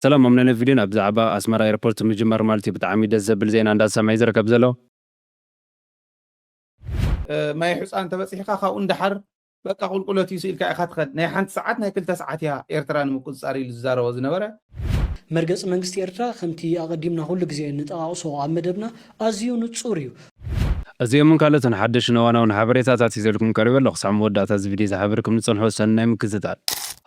ሰላም ማም ነነ ቪድዮን ኣብዛዕባ ኣስመራ ኤርፖርት ምጅማር ማልትዩ ብጣዕሚ ደስ ዘብል ዜና እንዳ ዝሰምዐ ዩ ዝርከብ ዘሎ። ማይ ሑጻ እንተ በጺሕካ ካብኡ ንደሓር በቃ ቁልቁለት እዩ ስኢልካ ኢኻ ትኸድ ናይ ሓንቲ ሰዓት ናይ ክልተ ሰዓት እያ ኤርትራ ንምቁጽጻር ኢሉ ዝዛረቦ ዝነበረ። መርገጺ መንግስቲ ኤርትራ ከምቲ ኣቐዲምና ኩሉ ግዜ እንጠቓቕሶ ኣብ መደብና ኣዝዩ ንጹር እዩ። እዚኦምን ካልኦትን ሓደሽን እዋናውን ሓበሬታታት ሒዘልኩም ቀሪበ ኣለኹ። ክሳዕ መወዳእታ እዚ ቪድዮ ዝሓበርኩም ንጽንሑ ሰናይ ምክትታል።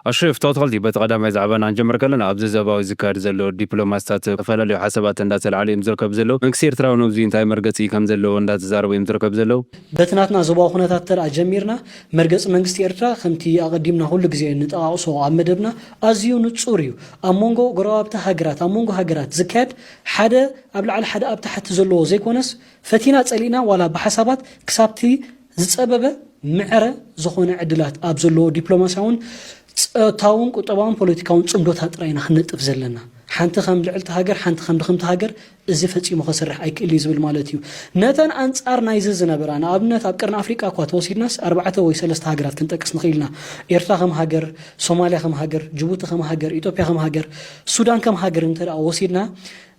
ኣሽሪፍ ቶትኸልቲ በቲ ቀዳማይ ዛዕባና ክንጀምር ከለና ኣብዚ ዞባዊ ዝካየድ ዘሎ ዲፕሎማሲታት ዝተፈላለዩ ሓሳባት እንዳተልዓሉ እዮም ዝርከቡ ዘለው መንግስቲ ኤርትራ ውን እብዙይ እንታይ መርገጺ ከም ዘለዎ እንዳተዛረቡ እዮም ዝርከቡ ዘለው በቲ ናትና ዞባዊ ኩነታት እንተ ጀሚርና መርገጺ መንግስቲ ኤርትራ ከምቲ ኣቐዲምና ኩሉ ግዜ ንጠቓቕሶ ኣብ መደብና ኣዝዩ ንጹር እዩ ኣብ መንጎ ጎረባብቲ ሃገራት ኣብ መንጎ ሃገራት ዝካየድ ሓደ ኣብ ላዕሊ ሓደ ኣብ ታሕቲ ዘለዎ ዘይኮነስ ፈቲና ጸሊእና ዋላ ብሓሳባት ክሳብቲ ዝጸበበ ምዕረ ዝኾነ ዕድላት ኣብ ዘለዎ ዲፕሎማስያውን ጸታውን ቁጠባውን ፖለቲካውን ጽምዶታት ጥራይ ኢና ክንነጥፍ ዘለና። ሓንቲ ከም ልዕልቲ ሃገር ሓንቲ ከም ድኽምቲ ሃገር እዚ ፈጺሙ ከስርሕ ኣይክእል እዩ ዝብል ማለት እዩ። ነተን ኣንጻር ናይዚ ዝነበራ ንኣብነት ኣብ ቀርኒ ኣፍሪቃ እኳ ተወሲድናስ ኣርባዕተ ወይ ሰለስተ ሃገራት ክንጠቅስ ንኽእል ኢና። ኤርትራ ከም ሃገር፣ ሶማልያ ከም ሃገር፣ ጅቡቲ ከም ሃገር፣ ኢትዮጵያ ከም ሃገር፣ ሱዳን ከም ሃገር እንተ ወሲድና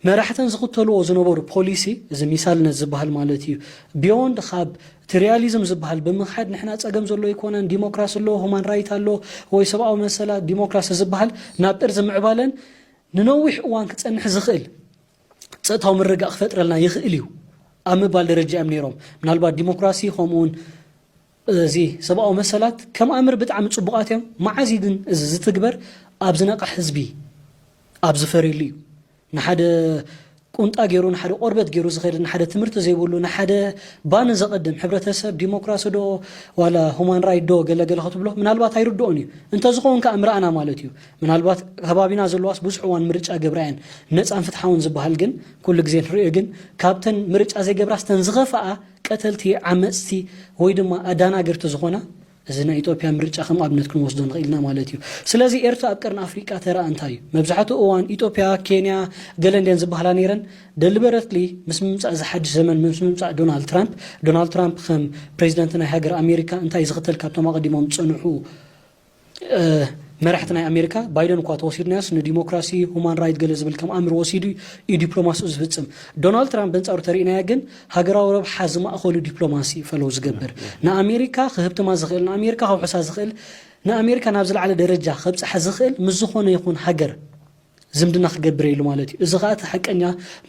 መራሕተን ዝኽተልዎ ዝነበሩ ፖሊሲ እዚ ሚሳልነት ዝበሃል ማለት እዩ ቢዮንድ ካብ እቲ ሪያሊዝም ዝበሃል ብምክሓድ ንሕና ፀገም ዘሎ ኣይኮነን ዲሞክራሲ ኣሎ ሁማን ራይት ኣሎ ወይ ሰብኣዊ መሰላት ዲሞክራሲ ዝበሃል ናብ ጥርዚ ምዕባለን ንነዊሕ እዋን ክፀንሕ ዝኽእል ፀጥታዊ ምርጋእ ክፈጥረልና ይኽእል እዩ ኣብ ምባል ደረጃ እዮም ነይሮም ምናልባት ዲሞክራሲ ከምኡውን እዚ ሰብኣዊ መሰላት ከም ኣምር ብጣዕሚ ጽቡቃት እዮም መዓዝ እዩ ግን እዚ ዝትግበር ኣብ ዝነቅሕ ህዝቢ ኣብ ዝፈርየሉ እዩ ንሓደ ቁንጣ ጌሩ ንሓደ ቆርበት ጌሩ ዝከድ ንሓደ ትምህርቲ ዘይብሉ ንሓደ ባኒ ዘቀድም ሕብረተሰብ ዲሞክራሲ ዶ ዋላ ሁማን ራይት ዶ ገለ ገለ ክትብሎ ምናልባት ኣይርድኦን እዩ እንተዝከውን ከኣ ምረኣና ማለት እዩ ምናልባት ከባቢና ዘለዋስ ብዙሕ እዋን ምርጫ ገብራ እየን ነጻን ፍትሓውን ዝበሃል ግን ኩሉ ግዜ ንርእዮ ግን ካብተን ምርጫ ዘይገብራስ ተን ዝከፈኣ ቀተልቲ ዓመጽቲ ወይ ድማ ኣዳናገርቲ ዝኾና እዚ ናይ ኢጦጵያ ምርጫ ከም ኣብነት ክንወስዶ ንኽእል ኢና ማለት እዩ። ስለዚ ኤርትራ ኣብ ቀርኒ ኣፍሪቃ ተራኣ እንታይ እዩ? መብዛሕትኡ እዋን ኢጦጵያ፣ ኬንያ ገለ እንድየን ዝበሃላ ነይረን። ደሊበረትሊ ምስ ምምጻእ እዚ ሓድሽ ዘመን ምስ ምምጻእ ዶናልድ ትራምፕ፣ ዶናልድ ትራምፕ ከም ፕረዚደንት ናይ ሃገር ኣሜሪካ እንታይ ዝኽተል ካብቶም ኣቐዲሞም ዝጸንሑ መራሕቲ ናይ ኣሜሪካ ባይደን እኳ ተወሲድናዮስ ንዲሞክራሲ ሁማን ራይት ገለ ዝብል ከም ኣምር ወሲዱ እዩ ዲፕሎማሲኡ ዝፍፅም ዶናልድ ትራምፕ በንፃሩ ተርእናዮ ግን ሃገራዊ ረብሓ ዝማእኸሉ ዲፕሎማሲ እዩ ፈለው ዝገብር ንኣሜሪካ ክህብትማ ዝኽእል ንኣሜሪካ ከውሕሳ ዝኽእል ንኣሜሪካ ናብ ዝለዓለ ደረጃ ከብፅሓ ዝኽእል ምስ ዝኾነ ይኹን ሃገር ዝምድና ክገብር እየ ኢሉ ማለት እዩ። እዚ ከኣ እቲ ሓቀኛ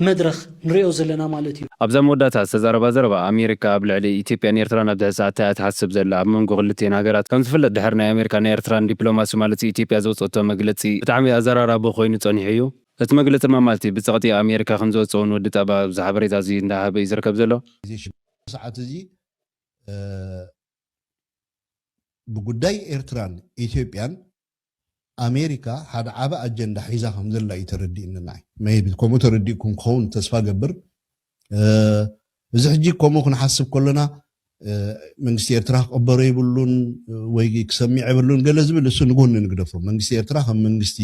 መድረኽ ንርእዮ ዘለና ማለት እዩ። ኣብዛ መወዳእታ ዝተዛረባ ዘረባ፣ ኣሜሪካ ኣብ ልዕሊ ኢትዮጵያን ኤርትራን ኣብዚ ሕዚ ሰዓት ታይ እያ ትሓስብ ዘላ? ኣብ መንጎ ክልቲኤን ሃገራት ከም ዝፍለጥ ድሕሪ ናይ ኣሜሪካን ናይ ኤርትራን ዲፕሎማሲ ማለት ኢትዮጵያ ዘውጸእቶ መግለጺ ብጣዕሚ ኣዘራራቢ ኮይኑ ጸኒሑ እዩ። እቲ መግለጺ ድማ ማለት ብጸቕጢ ኣሜሪካ ከም ዝወጸ ውን ወዲ ጣባ ኣብዚ ሓበሬታ እዚ እንዳሃበ እዩ ዝርከብ ዘሎ። እዚ ሽግር ኣብዚ ሰዓት እዚ ብጉዳይ ኤርትራን ኢትዮጵያን ኣሜሪካ ሓደ ዓቢ ኣጀንዳ ሒዛ ከም ዘላ እዩ ተረዲእኒ ንዓይ maybe ከምኡ ተረዲእኩም ክኸውን ተስፋ እገብር እዚ ሕጂ ከምኡ ክንሓስብ ከሎና መንግስቲ ኤርትራ ክቕበሮ የብሉን ወይ ክሰሚዕ የብሉን ገለ ዝብል እሱ ንጎኒ ንግደፎ መንግስቲ ኤርትራ ከም መንግስቲ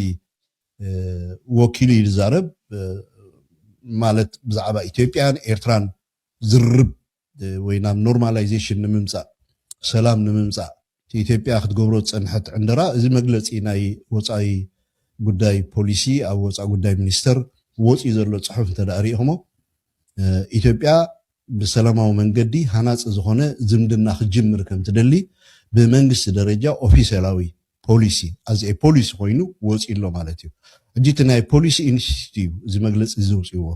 ወኪሉ እዩ ዝዛረብ ማለት ብዛዕባ ኢትዮጵያን ኤርትራን ዝርርብ ወይ ናብ ኖርማላይዜሽን ንምምጻእ ሰላም ንምምጻእ እቲ ኢትዮጵያ ክትገብሮ ዝጸንሐት ዕንደራ እዚ መግለጺ ናይ ወጻኢ ጉዳይ ፖሊሲ ኣብ ወጻኢ ጉዳይ ሚኒስተር ወጽዩ ዘሎ ጽሑፍ እንተድኣ ሪኢኽሞ ኢትዮጵያ ብሰላማዊ መንገዲ ሃናጺ ዝኾነ ዝምድና ክትጅምር ከምትደሊ ብመንግስቲ ደረጃ ኦፊሴላዊ ፖሊሲ ኣዝ ኤ ፖሊሲ ኮይኑ ወጽዩ ኣሎ ማለት እዩ ሕጂ እቲ ናይ ፖሊሲ ኢንስቲትዩት እዩ እዚ መግለጺ እዚ ዘውጽእዎ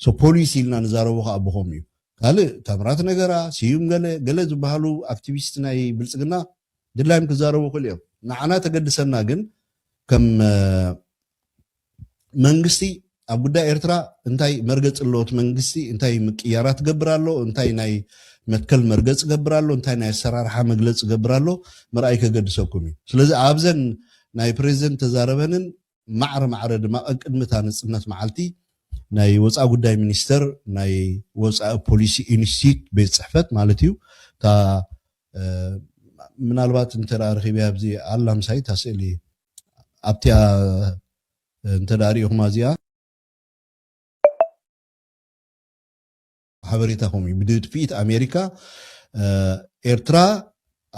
ሶ ፖሊሲ ኢልና ንዛረቦ ከኣ ብኸምኡ እዩ ካልእ ታምራት ነገራ፣ ስዩም ገለ፣ ገለ ዝበሃሉ ኣክቲቪስት ናይ ብልጽግና ድላዮም ክዛረቡ ይኽእሉ እዮም። ንዓና ተገድሰና ግን ከም መንግስቲ ኣብ ጉዳይ ኤርትራ እንታይ መርገጽ ኣሎ እቲ መንግስቲ እንታይ ምቅያራት ገብር ኣሎ እንታይ ናይ መትከል መርገጽ ገብር ኣሎ እንታይ ናይ ኣሰራርሓ መግለጽ ገብር ኣሎ ምርኣይ ከገድሰኩም እዩ ስለዚ ኣብዘን ናይ ፕሬዚደንት ተዛረበንን ማዕረ ማዕረ ድማ ቀቅድሚ እታ ነጽነት መዓልቲ ናይ ወጻኢ ጉዳይ ሚኒስተር ናይ ወጻኢ ፖሊሲ ኢንስቲትዩት ቤት ጽሕፈት ማለት እዩ እታ ምናልባት እንተ ረኺበያ ኣብዚ ኣላ ምሳይ እታ ስእሊ ኣብቲኣ እንተ ሪኢኹማ እዚኣ ሓበሬታ ከምኡ እዩ ብድፍኢት ኣሜሪካ ኤርትራ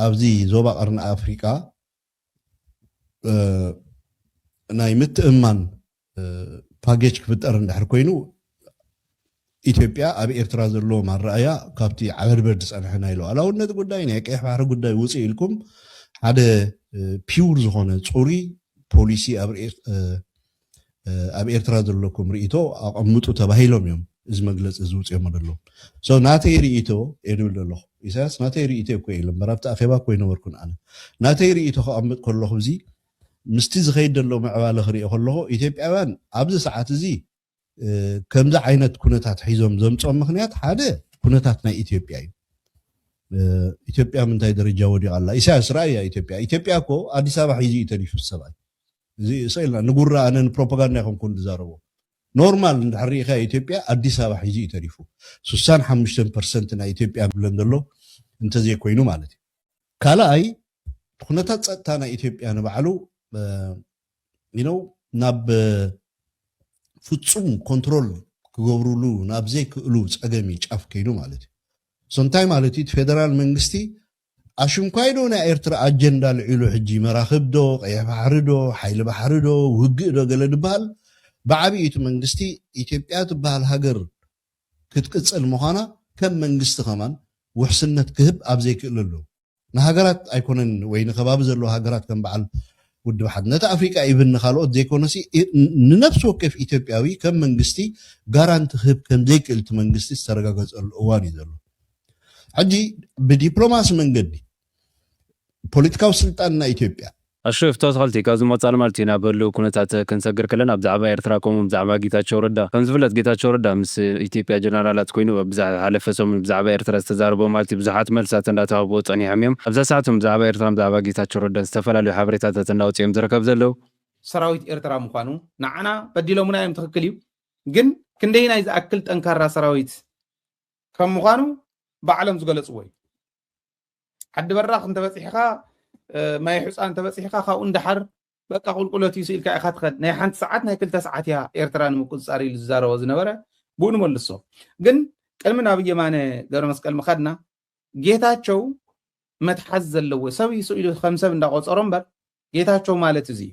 ኣብዚ ዞባ ቀርኒ ኣፍሪቃ ናይ ምትእምማን ፓኬጅ ክፍጠር እንድሕር ኮይኑ ኢትዮጵያ ኣብ ኤርትራ ዘለዎም ኣረኣያ ካብቲ ዓበድበድ ዝፀንሐ ናይ ሉዓላውነት ጉዳይ ናይ ቀይሕ ባሕሪ ጉዳይ ውፅእ ኢልኩም ሓደ ፒውር ዝኾነ ፅሩይ ፖሊሲ ኣብ ኣብ ኤርትራ ዘለኩም ሪኢቶ ኣቀምጡ ተባሂሎም እዮም እዚ መግለፂ እዚ ውፅኦሞ ደለዉ ሶ ናተይ ሪኢቶ እየ ድብል ደለኩ ኢሳያስ ናተይ ሪኢቶ እኮ ኢለ እምበር ኣብቲ ኣኼባ እኮ ኣይነበርኩን ኣነ ናተይ ሪኢቶ ከቀምጥ ከለኩ እዚ ምስቲ ዝከይድ ደሎ ምዕባለ ክሪኦ ከለኩ ኢትዮጵያውያን ኣብዚ ሰዓት እዚ ከምዚ ዓይነት ኩነታት ሒዞም ዘምፅኦም ምክንያት ሓደ ኩነታት ናይ ኢትዮጵያ እዩ ኢትዮጵያ ምንታይ ደረጃ ወዲቃ ኣላ ኢሳያስ ራእያ ኢትዮጵያ ኢትዮጵያ እኮ ኣዲስ ኣበባ ሒዙ እዩ ተሪፉ ሰብኣይ እዚ ስቅ ኢልና ንጉራ ኣነ ንፕሮፓጋንዳ ኣይኮንኩን ዝዛረቦ ኖርማል እንድሕር ሪኢካዮ ኢትዮጵያ ኣዲስ ኣበባ ሒዙ እዩ ተሪፉ ሱሳን ሓሙሽተን ፐርሰንት ናይ ኢትዮጵያ ብለን ዘሎ እንተዘይኮይኑ ማለት እዩ ካልኣይ ኩነታት ፀጥታ ናይ ኢትዮጵያ ንባዕሉ ይነው ናብ ፍፁም ኮንትሮል ክገብሩሉ ናብ ዘይክእሉ ፀገም እዩ ጫፍ ከይዱ ማለት እዩ ሶንታይ ማለት እዩ እቲ ፌደራል መንግስቲ ኣሽንኳይ ዶ ናይ ኤርትራ ኣጀንዳ ኣልዒሉ ሕጂ መራኽብ ዶ ቀይሕ ባሕሪ ዶ ሓይሊ ባሕሪ ዶ ውግእ ዶ ገለ ድበሃል ብዓቢኡ እቲ መንግስቲ ኢትዮጵያ ትበሃል ሃገር ክትቅጽል ምዃና ከም መንግስቲ ከማን ውሕስነት ክህብ ኣብ ዘይክእለሉ ንሃገራት ኣይኮነን ወይ ንከባቢ ዘለዋ ሃገራት ከም በዓል ውድብ ሓድነት ኣፍሪቃ ኢቭን ንካልኦት ዘይኮነሲ ንነፍሲ ወከፍ ኢትዮጵያዊ ከም መንግስቲ ጋራንቲ ክህብ ከም ዘይክእል እቲ መንግስቲ ዝተረጋገጸሉ እዋን እዩ ዘሎ ሕጂ ብዲፕሎማሲ መንገዲ ፖለቲካዊ ስልጣን ናይ ኢትዮጵያ። ኣሹ ፍቶ ተኸልቲ ካብዚ ምቕጻል ማለት እዩ ናብ ህሉው ኩነታት ክንሰግር ከለና ብዛዕባ ኤርትራ ከምኡ ውን ብዛዕባ ጌታቸው ረዳ ከም ዝፍለጥ ጌታቸው ረዳ ምስ ኢትዮጵያ ጀነራላት ኮይኑ ኣብ ዝሓለፈ ሰሙን ብዛዕባ ኤርትራ ዝተዛረቦ ማለት እዩ ብዙሓት መልስታት እንዳተሃብዎ ጸኒሖም እዮም ኣብዛ ሰዓት ውን ብዛዕባ ኤርትራን ብዛዕባ ጌታቸው ረዳን ዝተፈላለዩ ሓበሬታታት እንዳወጽኡ እዮም ዝረከብ ዘለው ሰራዊት ኤርትራ ምዃኑ ንዓና በዲሎሙና እዮም ትኽክል እዩ ግን ክንደየናይ ዝኣክል ጠንካራ ሰራዊት ከም ምዃኑ ባዕሎም ዝገለፅዎ እዩ ዓዲ በራኽ እንተበፂሕኻ ማይ ሕፃ እንተበፂሕኻ ካብኡ እንዳሓር በቃ ቁልቁለት እዩ ስኢልካ ኢኻ ትኸድ ናይ ሓንቲ ሰዓት ናይ ክልተ ሰዓት እያ ኤርትራ ንምቁፅፃር ኢሉ ዝዛረቦ ዝነበረ ብኡ ንመልሶ ግን ቅድሚ ናብ የማነ ገብረ መስቀል ምኻድና ጌታቸው መትሓዝ ዘለዎ ሰብ ይስኢሉ ከም ሰብ እንዳቆፀሮ እምበር ጌታቸው ማለት እዚ እዩ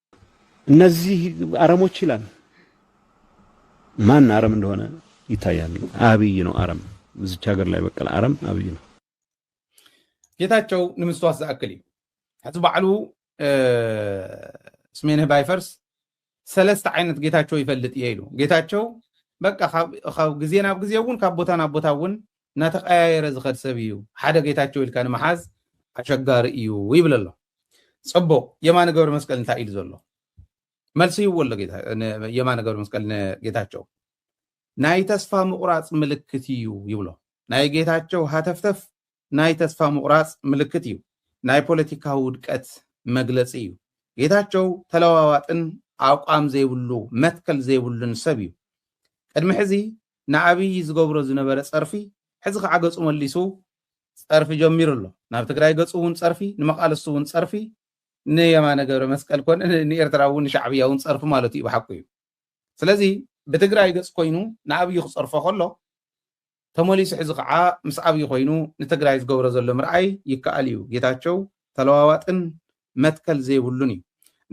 እነዚህ አረሞች ይላል። ማን አረም እንደሆነ ይታያል። አብይ ነው አረም። እዚች ሀገር ላይ በቀለ አረም አብይ ነው። ጌታቸው ንምስትዋስ ዝኣክል እዩ ሕዚ ባዕሉ ስሜንህ ባይፈርስ ሰለስተ ዓይነት ጌታቸው ይፈልጥ እየ ኢሉ ጌታቸው በቃ ካብ ግዜ ናብ ግዜ እውን ካብ ቦታ ናብ ቦታ እውን እናተቀያየረ ዝኸድ ሰብ እዩ ሓደ ጌታቸው ኢልካ ንምሓዝ ኣሸጋሪ እዩ ይብል ኣሎ ፅቡቅ የማነ ገብረ መስቀል እንታይ ኢሉ ዘሎ መልሲ ይዎ ኣሎ የማነ ገብረ መስቀል ንጌታቸው ናይ ተስፋ ምቁራፅ ምልክት እዩ ይብሎ ናይ ጌታቸው ሃተፍተፍ ናይ ተስፋ ምቁራፅ ምልክት እዩ ናይ ፖለቲካ ውድቀት መግለፂ እዩ ጌታቸው ተለዋዋጥን ኣቋም ዘይብሉ መትከል ዘይብሉን ሰብ እዩ ቅድሚ ሕዚ ንኣብዪ ዝገብሮ ዝነበረ ፀርፊ ሕዚ ከዓ ገፁ መሊሱ ፀርፊ ጀሚሩ ኣሎ ናብ ትግራይ ገፁ እውን ፀርፊ ንመቃልስቱ እውን ፀርፊ ንየማነ ገብረመስቀል ኮነ ንኤርትራ እውን ንሻዕብያ እውን ፀርፊ ማለቱ እዩ ብሓቁ እዩ ስለዚ ብትግራይ ገፅ ኮይኑ ንኣብዪ ክፀርፎ ከሎ ተመሊሱ ሕዚ ከዓ ምስ ኣብዪ ኮይኑ ንትግራይ ዝገብሮ ዘሎ ምርኣይ ይከኣል እዩ ጌታቸው ተለዋዋጥን መትከል ዘይብሉን እዩ።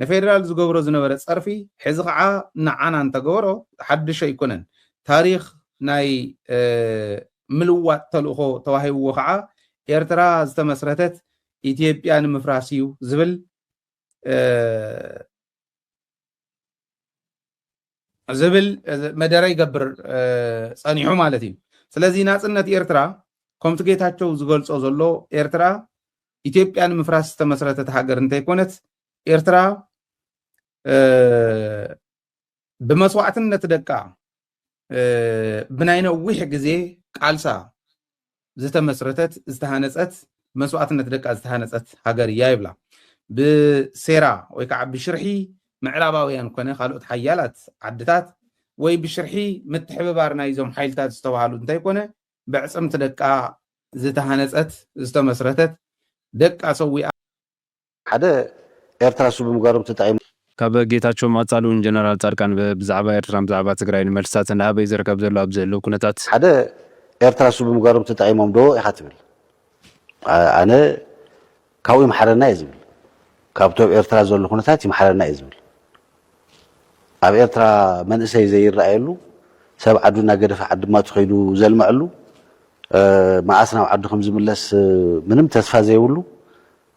ንፌደራል ዝገብሮ ዝነበረ ጸርፊ ሕዚ ከኣ ንዓና እንተገበሮ ሓድሽ ኣይኮነን። ታሪኽ ናይ ምልዋጥ ተልእኾ ተዋሂብዎ ከኣ ኤርትራ ዝተመስረተት ኢትዮጵያ ንምፍራስ እዩ ዝብል ዝብል መደረ ይገብር ጸኒሑ ማለት እዩ ስለዚ ናጽነት ኤርትራ ከምቲ ጌታቸው ዝገልጾ ዘሎ ኤርትራ ኢትዮጵያ ንምፍራስ ዝተመስረተት ሃገር እንተይኮነት ኤርትራ ብመስዋዕትነት ደቃ ብናይ ነዊሕ ግዜ ቃልሳ ዝተመስረተት ዝተሃነፀት መስዋእትነት ደቃ ዝተሃነፀት ሃገር እያ ይብላ። ብሴራ ወይ ከዓ ብሽርሒ ምዕራባውያን ኮነ ካልኦት ሓያላት ዓድታት ወይ ብሽርሒ ምትሕብባር ናይዞም ሓይልታት ዝተባሃሉ እንተይኮነ በዕፅምቲ ደቃ ዝተሃነፀት ዝተመስረተት ደቃ ሰዊኣ ሓደ ኤርትራ እሱ ብምግባሮም ተጠቂሞም። ካብ ጌታቸውን ኣጻልኡን ጀነራል ጻድቃን ብ ብዛዕባ ኤርትራን ብዛዕባ ትግራይን መልስታት እንዳሃበ'ዩ ዝርከብ ዘሎ ኣብዚ ህልው ኩነታት። ሓደ ኤርትራ እሱ ብምግባሮም ተጠቂሞም ዶ ኢኻ ትብል ኣነ ካብኡ ይምሓረና እየ ዝብል ካብቲ ኣብ ኤርትራ ዘሎ ኩነታት ይምሓረና እየ ዝብል ኣብ ኤርትራ መንእሰይ ዘይረኣየሉ፣ ሰብ ዓዱ እናገደፈ ዓዲ ማቱ ከይዱ ዘልመዐሉ፣ መኣስ ናብ ዓዱ ከም ዝምለስ ምንም ተስፋ ዘይብሉ፣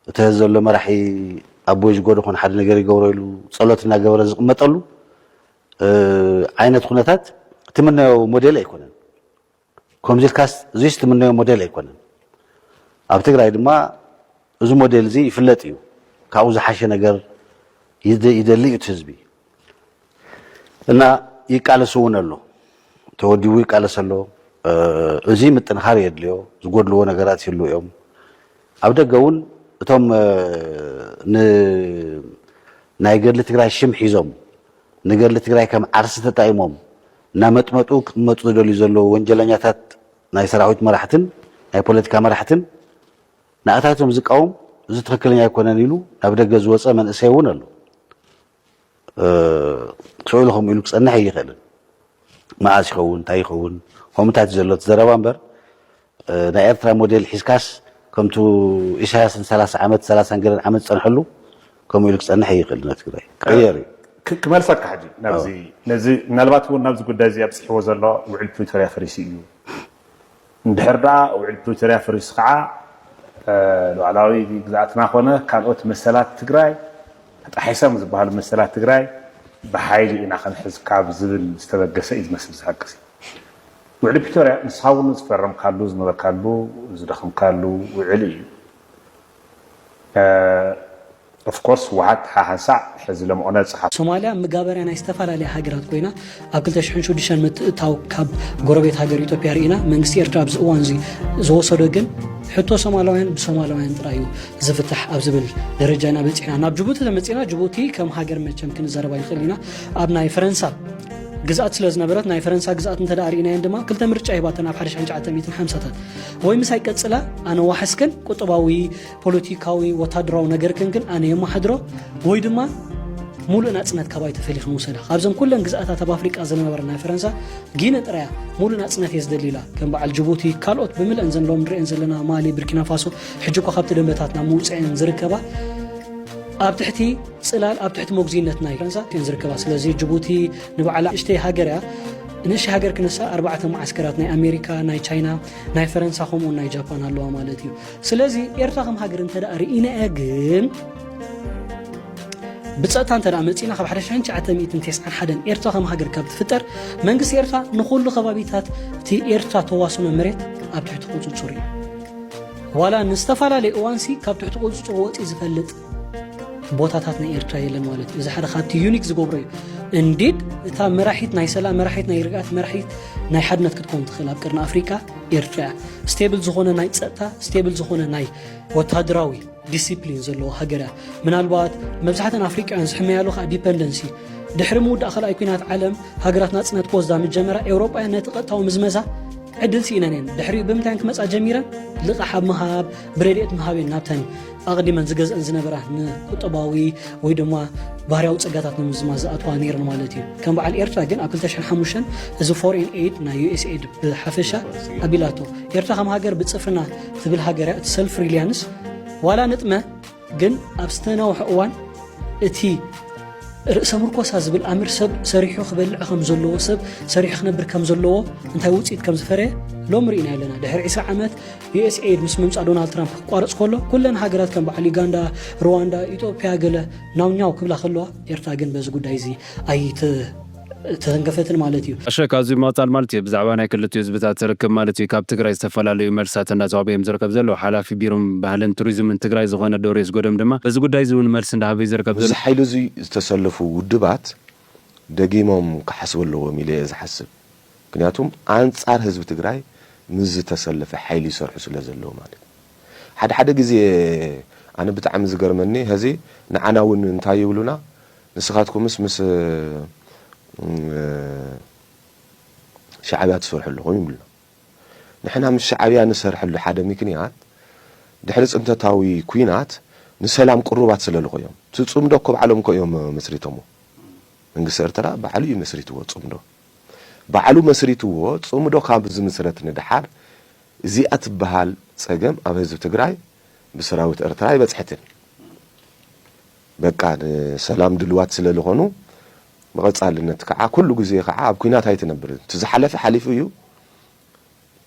እቲ ሐዚ ዘሎ መራሒ ኣቦይ ዝጎዶ ኮን ሓደ ነገር ይገብሮ ኢሉ ጸሎት እናገበረ ዝቕመጠሉ ዓይነት ኩነታት ትምነዮ ሞዴል ኣይኮነን። ከምዚ ኢልካስ እዙይስ ትምነዮ ሞዴል ኣይኮነን። ኣብ ትግራይ ድማ እዚ ሞዴል እዚ ይፍለጥ እዩ። ካብኡ ዝሓሸ ነገር ይደሊ እዩ እቲ ህዝቢ እና ይቃለስ እውን ኣሎ። ተወዲቡ ይቃለስ ኣሎ። እዚ ምጥንኻር የድልዮ። ዝጎድልዎ ነገራት ይህልው እዮም። ኣብ ደገ እውን እቶም ናይ ገድሊ ትግራይ ሽም ሒዞም ንገድሊ ትግራይ ከም ዓርሲ ተጣይሞም እናመጥመጡ ክጥመጡ ዝደልዩ ዘለዉ ወንጀለኛታት ናይ ሰራዊት መራሕትን ናይ ፖለቲካ መራሕትን ናእታቶም ዝቃወም እዚ ትኽክለኛ ኣይኮነን ኢሉ ናብ ደገ ዝወፀ መንእሰይ እውን ኣሎ። ስዕሉ ከምኡ ኢሉ ክፀንሕ ኣይኽእልን። መዓስ ይኸውን እንታይ ይኸውን ኮምታት ዘሎ ዘረባ እምበር ናይ ኤርትራ ሞዴል ሒዝካስ ከምቱ ኢሳያስ ን ሰላሳ ዓመት ሰላሳን ገለን ዓመት ዝጸንሐሉ ከምኡ ኢሉ ክጸንሕ ኣይኽእልን ኣብ ትግራይ ክቕየር እዩ። ክመልሰካ ሕጂ ናብዚ ነዚ ምናልባት እውን ናብዚ ጉዳይ እዚ ኣብጺሕዎ ዘሎ ውዕል ፕሪቶርያ ፈሪሱ እዩ እንድሕር ድኣ ውዕል ፕሪቶርያ ፈሪሱ ከዓ ሉዓላዊ ግዝኣትና ኮነ ካልኦት መሰላት ትግራይ ተጣሒሶም ዝበሃሉ መሰላት ትግራይ ብሓይሊ ኢና ክንሕዝ ካብ ዝብል ዝተበገሰ እዩ ዝመስል እዚ ሓቂ እዚ። ውዕሊ ፕሪቶርያ ንስኻ እውን ዝፈረምካሉ ዝነበርካሉ ዝደኸምካሉ ውዕሊ እዩ። ኦፍኮርስ ህወሓት ሓሓንሳዕ ሕዚ ለምኦነ ፀሓፉ። ሶማልያ ምጋበርያ ናይ ዝተፈላለያ ሃገራት ኮይና ኣብ ክልተ ሽሕን ሽዱሽተን ምትእታው ካብ ጎረቤት ሃገር ኢትዮጵያ ርኢና መንግስቲ ኤርትራ ኣብዚ እዋን እዚ ዝወሰዶ ግን ሕቶ ሶማላውያን ብሶማላውያን ጥራይ እዩ ዝፍታሕ ኣብ ዝብል ደረጃ ኢና በፂሕና ናብ ጅቡቲ ተመፂና ጅቡቲ ከም ሃገር መቸም ክንዘረባ ይኽእል ኢና ኣብ ናይ ፈረንሳ ግዝኣት ስለ ዝነበረት ናይ ፈረንሳ ግዝኣት እንተ ርእናየን ድማ ክልተ ምርጫ ሂባተን ኣብ ሓደ ሽሕን ትሽዓተ ሚእትን ሓምሳታት ወይ ምሳይ ቀጽላ ኣነ ዋሕስክን ቁጠባዊ ፖለቲካዊ ወታደራዊ ነገርክን ግን ኣነ የመሓድሮ ወይ ድማ ሙሉእ ናጽነት ካባይ ተፈሊኽን ውሰዳ ካብዘን ኩለን ግዝኣታት ኣብ ኣፍሪቃ ዝነበረ ናይ ፈረንሳ ጊነ ጥራያ ሙሉእ ናጽነት እየ ዝደሊ ኢላ ከም በዓል ጅቡቲ ካልኦት ብምልአን ዘን ሎም ንሪአን ዘለና ማሊ ብርኪና ፋሶ ሕጂ እኳ ካብቲ ደንበታት ናብ ምውፅአን ዝርከባ ኣብ ትሕቲ ጽላል ኣብ ትሕቲ መጉዚነት ናይ ፈረንሳ እየን ዝርከባ ስለዚ ጅቡቲ ንባዕላ ንእሽተይ ሃገር እያ ንእሽተይ ሃገር ክንሳ ኣርባዕተ መዓስከራት ናይ ኣሜሪካ ናይ ቻይና ናይ ፈረንሳ ከምኡውን ናይ ጃፓን ኣለዋ ማለት እዩ ስለዚ ኤርትራ ከም ሃገር እንተ ርኢና እያ ግን ብፀጥታ እንተ መፂና ካብ 1991 ኤርትራ ከም ሃገር ካብ ትፍጠር መንግስቲ ኤርትራ ንኩሉ ከባቢታት እቲ ኤርትራ ተዋስኖ መሬት ኣብ ትሕቲ ቁፅፅር እዩ ዋላ ንዝተፈላለዩ እዋንሲ ካብ ትሕቲ ቁፅፅር ወፂ ዝፈልጥ ቦታታት ናይ ኤርትራ የለን ማለት እዩ እዚ ሓደ ካብቲ ዩኒክ ዝገብሮ እዩ እንዲድ እታ መራሒት ናይ ሰላም መራሒት ናይ ርግኣት መራሒት ናይ ሓድነት ክትከውን ትኽእል ኣብ ቅርኒ ኣፍሪቃ ኤርትራ እያ ስቴብል ዝኾነ ናይ ፀጥታ ስቴብል ዝኾነ ናይ ወታደራዊ ዲሲፕሊን ዘለዎ ሃገር እያ ምናልባት መብዛሕተን ኣፍሪቃውያን ዝሕመያሉ ከዓ ዲፐንደንሲ ድሕሪ ምውዳእ ካልኣይ ኩናት ዓለም ሃገራት ናፅነት ክወስዳ ምጀመራ ኤውሮጳውያን ነቲ ቀጥታዊ ምዝመዛ ዕድል ስኢነን እየን ድሕሪኡ ብምንታይ ክመፃ ጀሚረን ልቓሕ ኣብ ምሃብ ብረድኤት ምሃብ እየን ናብተን ኣቕዲመን ዝገዝእን ዝነበራ ንቁጠባዊ ወይ ድማ ባህርያዊ ጸጋታት ንምዝማ ዝኣትዋ ነይረን ማለት እዩ ከም በዓል ኤርትራ ግን ኣብ 205 እዚ ፎሬን ኤድ ናይ ዩኤስኤድ ብሓፈሻ ኣቢላቶ ኤርትራ ከም ሃገር ብጽፍርና ትብል ሃገር እቲ ሰልፍ ሪሊያንስ ዋላ ንጥመ ግን ኣብ ዝተናውሐ እዋን እቲ ርእሰ ምርኮሳ ዝብል ኣምር ሰብ ሰሪሑ ክበልዕ ከም ዘለዎ ሰብ ሰሪሑ ክነብር ከም ዘለዎ እንታይ ውፅኢት ከም ዝፈረየ ሎም ርኢና ኣለና ድሕሪ 20 ዓመት ዩኤስኤይድ ምስ ምምፃእ ዶናልድ ትራምፕ ክቋረፅ ከሎ ኩለን ሃገራት ከም በዓል ዩጋንዳ፣ ሩዋንዳ፣ ኢትዮጵያ ገለ ናውኛው ክብላ ከለዋ ኤርትራ ግን በዚ ጉዳይ እዚ ኣይት ተተንከፈትን ማለት እዩ። ኣሸ ካብዚ ምቕፃል ማለት እዩ ብዛዕባ ናይ ክልቲኡ ህዝብታት ርክብ ማለት እዩ ካብ ትግራይ ዝተፈላለዩ መልስታት እናተዋህበ እዮም ዝርከብ ዘለዉ። ሓላፊ ቢሮ ባህልን ቱሪዝምን ትግራይ ዝኾነ ዶርዮስ ጎዶም ድማ በዚ ጉዳይ እዚ እውን መልሲ እንዳሃበ እዩ ዝርከብ ዘሎ። ኣብዚ ሓይሊ እዙይ ዝተሰለፉ ውድባት ደጊሞም ክሓስቡ ኣለዎም ኢለ እየ ዝሓስብ። ምክንያቱም ኣንፃር ህዝቢ ትግራይ ምስ ዝተሰለፈ ሓይሊ ይሰርሑ ስለ ዘለው ማለት እዩ። ሓደ ሓደ ግዜ ኣነ ብጣዕሚ ዝገርመኒ ሀዚ ንዓና እውን እንታይ ይብሉና ንስኻትኩምስ ምስ ሻዕብያ ትሰርሑ ኣለኹም ይብሉና። ንሕና ምስ ሻዕብያ ንሰርሐሉ ሓደ ምክንያት ድሕሪ ፅንተታዊ ኩናት ንሰላም ቅሩባት ስለ ልኾ እዮም። እቲ ፅምዶ እኮ ባዕሎም እኮ እዮም መስሪቶምዎ። መንግስቲ ኤርትራ ባዕሉ እዩ መስሪትዎ ፅምዶ። ባዕሉ መስሪትዎ ፅምዶ ካብ ዝምስረት ንደሓር እዚኣ ትበሃል ፀገም ኣብ ህዝቢ ትግራይ ብሰራዊት ኤርትራ ኣይበፅሐትን በቃ ንሰላም ድልዋት ስለልኾኑ ብቐፃልነት ከዓ ኩሉ ግዜ ከዓ ኣብ ኩናት ኣይትነብርን እቲ ዝሓለፈ ሓሊፉ እዩ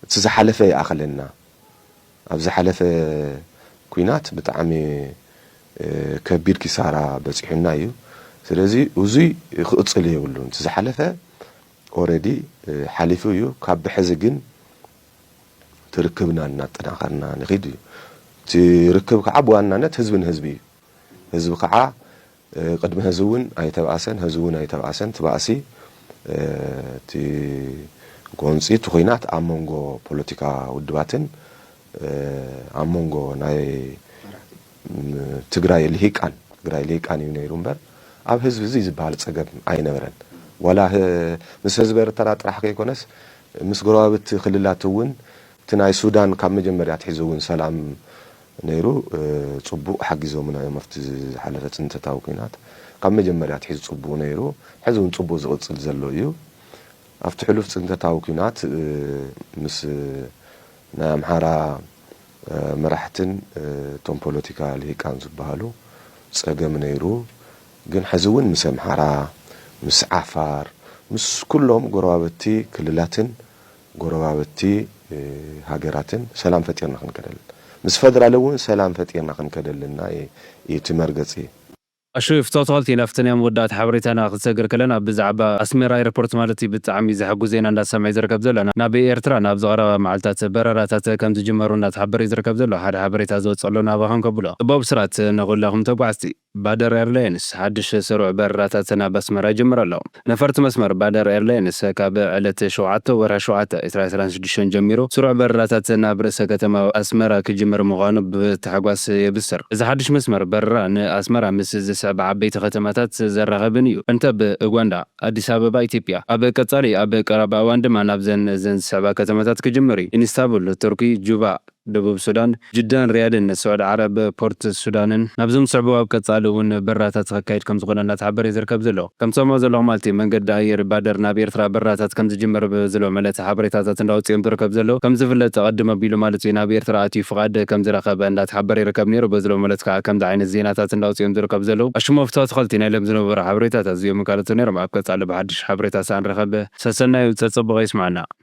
እቲ ዝሓለፈ ይኣኽለና ኣብ ዝሓለፈ ኩናት ብጣዕሚ ከቢድ ኪሳራ በጺሑና እዩ ስለዚ ኡዙይ ክቅጽል የብሉን እቲ ዝሓለፈ ኦረዲ ሓሊፉ እዩ ካብ ብሐዚ ግን እቲ ርክብና እናጠናኸርና ንኺድ እዩ እቲ ርክብ ከዓ ብዋናነት ህዝቢ ንህዝቢ እዩ። ህዝቢ ካዓ ቅድሚ ሀዚ እውን ኣይተብኣሰን ሀዚ እውን ኣይተብኣሰን እቲ ባእሲ እቲ ጎንፂ እቲ ኹናት ኣብ መንጎ ፖለቲካ ውድባትን ኣብ መንጎ ናይ ትግራይ ሊሂቃን ትግራይ ሊሂቃን እዩ ነይሩ እምበር ኣብ ህዝቢ እዙይ ዝባሃል ፀገም ኣይነበረን ዋላ ምስ ህዝቢ ኤርትራ ጥራሕ ከይኮነስ ምስ ጎረባብቲ ክልላት እውን እቲ ናይ ሱዳን ካብ መጀመርያ ኣትሒዙ እውን ሰላም ነይሩ ጽቡቅ ሓጊዞምና እዮም ኣብቲ ዝሓለፈ ጽንተታዊ ኩናት ካብ መጀመርያ ኣትሒዙ ጽቡቅ ነይሩ ሕዚ ውን ጽቡቅ ዝቅጽል ዘሎ እዩ ኣብቲ ሕሉፍ ጽንተታዊ ኩናት ምስ ናይ ኣምሓራ መራሕትን እቶም ፖሎቲካ ሊሂቃን ዝብሃሉ ጸገም ነይሩ ግን ሕዚ ውን ምስ ኣምሓራ ምስ ዓፋር ምስ ኩሎም ጎረባብቲ ክልላትን ጎረባብቲ ሃገራትን ሰላም ፈጢርና ክንከደል ምስ ፈደራል እውን ሰላም ፈጢርና ክንከደል እና እዩ እቲ መርገጺ። ኣሹ ፍቶ ተክልቲ ናፍተን እያ መወዳእታ ሓበሬታና ክትሰግር ከለና ብዛዕባ ኣስሜራ ኤርፖርት ማለት እዩ ብጣዕሚ ዘሐጉስ ዜና እንዳሰምዐ እዩ ዝርከብ ዘሎ ናብ ኤርትራ ናብ ዝቀረባ መዓልታት በረራታት ከምዝጅመሩ እንዳተሓበረ እዩ ዝርከብ ዘሎ ሓደ ሓበሬታ ዝወጸሉ ናባክን ከብሎ ጽቡቅ ብስራት ንኩላኩም ተጓዓዝቲ። ባደር ኤርላይንስ ሓድሽ ስሩዕ በረራታት ናብ ኣስመራ ይጅምር ኣሎ። ነፈርቲ መስመር ባደር ኤርላይንስ ካብ ዕለት ሸውዓተ ወርሒ ሸውዓተ ዕስራን ዕስራን ሽዱሽተን ጀሚሩ ስሩዕ በረራታት ናብ ርእሰ ከተማ ኣስመራ ክጅምር ምዃኑ ብታሕጓስ የብስር። እዚ ሓድሽ መስመር በረራ ንኣስመራ ምስ ዝስዕባ ዓበይቲ ከተማታት ዘራኽብን እዩ፣ እንተብ ኡጋንዳ፣ ኣዲስ ኣበባ፣ ኢትዮጵያ፣ ኣብ ቀጻሊ ኣብ ቀረባ እዋን ድማ ናብዘን እዘን ዝስዕባ ከተማታት ክጅምር እዩ፣ ኢንስታቡል፣ ቱርኪ፣ ጁባ፣ ደቡብ ሱዳን፣ ጅዳን ሪያድን ን ስዑድ ዓረብ፣ ፖርት ሱዳንን ናብዞም ዝስዕቡ ኣብ ቀጻሊ ውን በረራታት ክካየድ ከም ዝኾነ እናተሓበረ ዩ ዝርከብ ዘሎ። ከም ትሰምዑ ዘለኹም ማለት ዩ መንገዲ ኣየር ባደር ናብ ኤርትራ በረራታት ከም ዝጅምር ብ ዝለመለተ ሓበሬታታት እንዳወጽ ዮም ዝርከብ ዘሎ። ከም ዝፍለጥ ቀድም ኣቢሉ ማለት ዩ ናብ ኤርትራ ኣትዩ ፍቓድ ከም ዝረከበ እንዳተሓበረ ይርከብ ነይሩ ብ ዝለመለተ ከኣ ከምዚ ዓይነት ዜናታት እንዳወጽ ዮም ዝርከቡ ዘለዉ። ኣሽሞፍቶ ኣትኸልቲ ናይ ሎም ዝነበሩ ሓበሬታታት እዚኦምን ካልኦትን ነይሮም። ኣብ ቀጻሊ ብ ሓድሽ ሓበሬታ ሳንረኸብ ሰሰናዩ ጸጸቡቐ ይስምዓና።